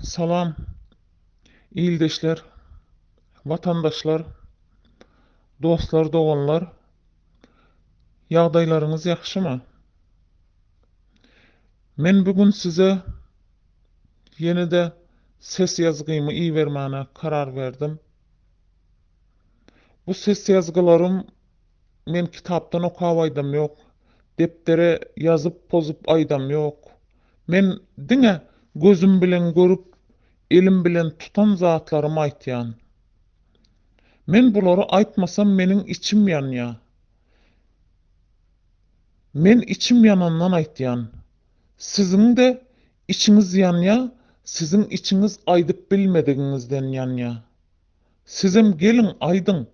Salam, ildeşler, watandaşlar, dostlar, doganlar! Ýagdaýlaryňyz ýagşymy? Men bu gün size ýene-de ses ýazgymy ibermäne karar berdim. Bu ses ýazgylarym Men kitapdan okap aýdam ýok, depdere ýazyp-pozup aýdam ýok. Men diňe gözüm bilen görüp, elim bilen tutan zatlarymy aýtýan. Men bulary aýtmasam meniň içim ýanýa. Men içim ýanandan aýtýan. Siziň-de içiňiz ýanýa, siziň içiňiz aýdyp bilmedigiňizden ýanýa. Sizem geliň aýdyň,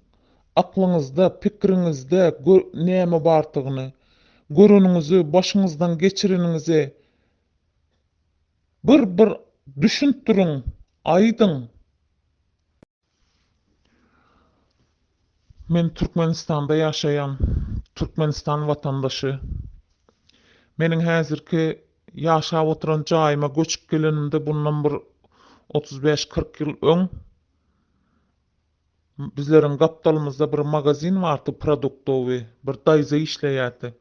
aklyňyzda, pikiriňizde näme bardygyny, göreniňizi, başyňyzdan geçireniňizi bir bir düşündiriň, aýdyň. Men Türkmenistanda ýaşaýan, Türkmenistan watandaşy. Meniň häzirki Ýaşap oturan jaýyma göçüp gelenimde bundan bir otuz bäş, kyrk ýyl öň bizleriň gapdalymyzda bir magazin bardy produktowy, bir daýza işleýärdi.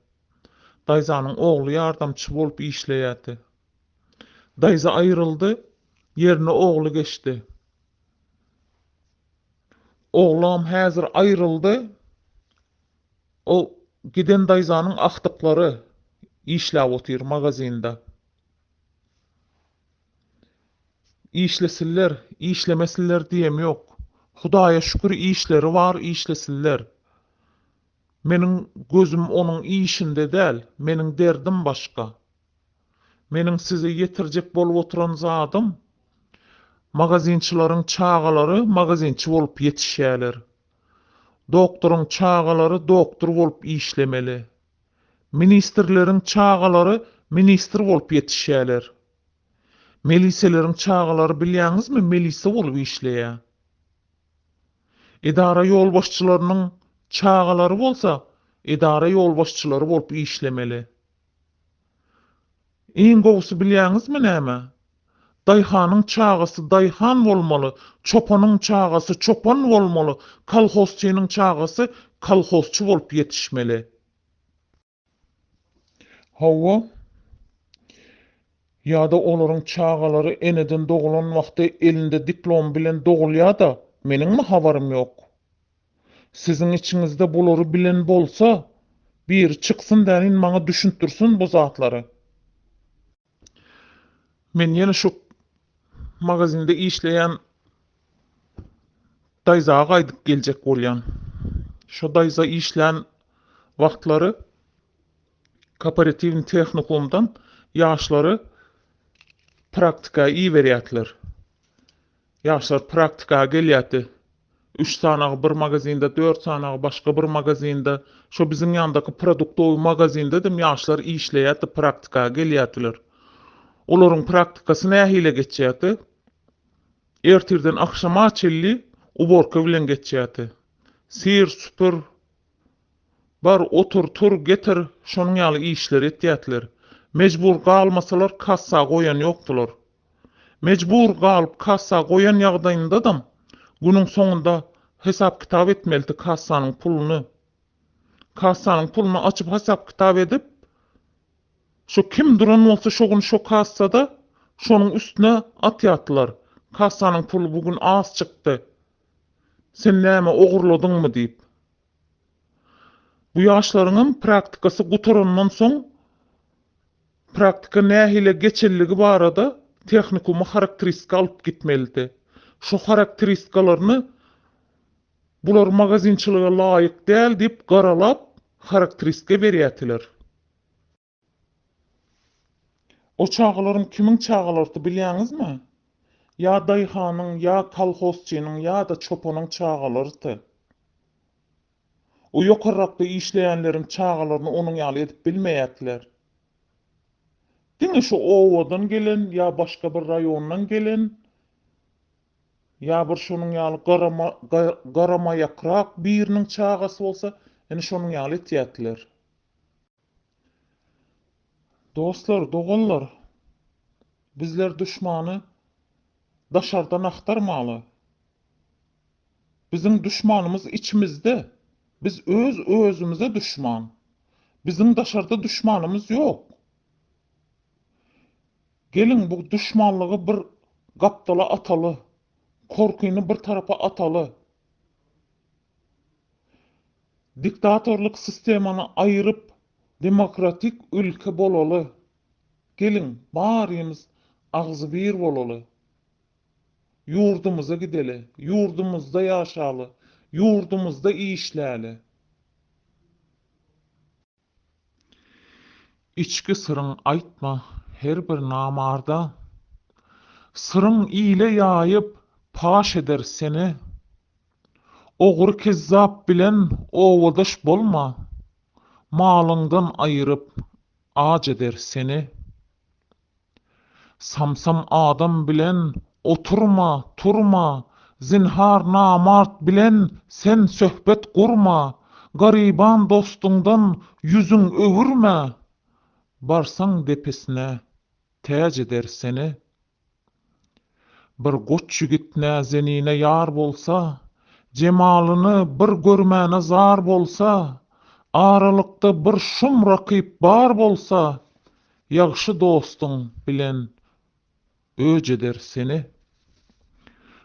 Daýzanyň ogly ýardamçy bolup işleýärdi. Daýza aýryldy, ýerine ogly geçdi. Oglam häzir aýryldy. O giden daýzanyň agtyklary işläp otyr magazinda. Işlesinler, işlemesinler diýem ýok. Hudaýa şükür işleri bar, işlesinler. Meniň gözüm onuň işinde däl, meniň derdim başga. Meniň size ýetirjek bolup oturan zadym, magazinçilaryň çagalary magazinçi bolup ýetişýärler. Doktoryň çagalary doktor bolup işlemeli. Ministrleriň çagalary ministr bolup ýetişýäler. Meliseleriň çagalary bilýäňizmi melise bolup işleýä. Edara ýolbaşçylarynyň çagalary bolsa edara ýolbaşçylary bolup işlemeli. Iň gowusy bilýäňizmi näme? Daýhanyň çagasy daýhan bolmaly, çopanyň çagasy çopan bolmaly, kolhozçynyň çagasy kolhozçy bolup ýetişmeli. Hawa. Ýa-da olaryň çagalary eneden dogulan wagty elinde diplom bilen dogulýa-da, meniňmi habarym ýok? Siziň içiňizde bulary bilen bolsa, biri çyksyn welin maňa düşündirsin bu zatlary. Men ýene şu magazinde işleýän daýza gaýdyp geljek bolýan. Şo daýza işlän wagtlary Koperatiwni tehnikumdan ýaşlary praktika iberýätler. Ýaşlar praktika gelýärdi. Üç sanagy bir magazinde, dört sanagy başga bir magazinde, şo biziň ýandaky produktowy magazindedem ýaşlar işleýärdi, praktika gelýärdiler. Olaryň praktikasy nähile geçýärdi? Ertirden agşama çenli uborka bilen geçýärdi. Syr, süpür, bar, otur, tur, getir, şonuň ýaly işleri etýärdiler. Mejbur galmasalar kassa goýan ýokdular. Mejbur galyp kassa goýan ýagdaýyndadam günüň soňunda hesap-kitap etmelidi kassanyň puluny. Kassanyň puluny açyp hasap-kitap edip, şo kim duran bolsa şo gün şo kassada şonuň üstüne atýardylar, kassanyň puly bu gün az çykdy, sen näme ogurladyňmy diýip. Bu ýaşlaryňam praktikasy gutarandan soň. Praktika nähili geçenligi barada tehnikuma harakteristika alyp gitmelidi. Şo harakteristikalarny bular magazinçilige laýyk däl diýip garalap harakteristika berýätiler. O çagalaryň kimiň çagalarydy bilýäňizmi? Ýa daýhanyň, ýa kolhozçynyň, ýa-da çopanyň çagalarydy. O ýokarrakda işleýänleriň çagalaryny onuň ýaly edip bilmeýätiler. Diňe şu obadan gelen ýa başga bir raýondan gelen ýa bir şonuň ýaly garamaýakrak biriniň çagasy bolsa, ine şonuň ýaly etýätiler. Dostlar, doganlar, bizler duşmany daşardan agtarmaly. Biziň duşmanymyz içimizde. Biz öz-özümize duşman. Biziň daşarda duşmanymyz ýok. Geliň, bu duşmanlygy bir gapdala ataly, korkyny bir tarapa ataly. Diktatorlyk sistemany aýyryp demokratik ülke bolaly. Geliň barymyz agzybir bolaly. Ýurdumyza gideli, ýurdumyzda ýaşaly, ýurdumyzda işläli. Içki syryň aýtma her bir namarda, Syryň ile ýaýyp, paş eder seni. Ogry-kezzap bilen obadaş bolma, Malyňdan aýyryp, aç eder seni. Samsam adam bilen oturma, turma, Zinhar namart bilen sen söhbet gurma, Garyban dostuňdan ýüzüň öwürme, Barsaň depesine täç eder seni. Bir goç ýigit näzenine ýar bolsa, Jemalyny bir görmäne zar bolsa, Aralykda bir şum rakyp bar bolsa, Ýagşy dostuň bilen öç eder seni.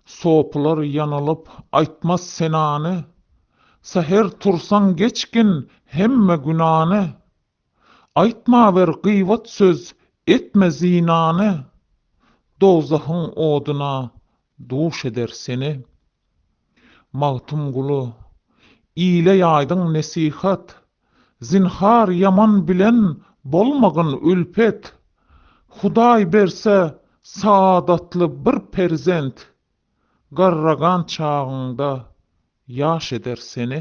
Sopylar ýanylyp aýtmaz senany, Säher tursaň geçgin hemme günany, Aýtma bir gybat söz, etme zynany, Dowzahyň oduna duş eder seni. Magtymguly, ile ýaýdyň nesihat, Zynhar ýaman bilen bolmagyn ülpet, Hudaý berse saadatly bir perzent, Garragan çagyňda ýaş eder seni.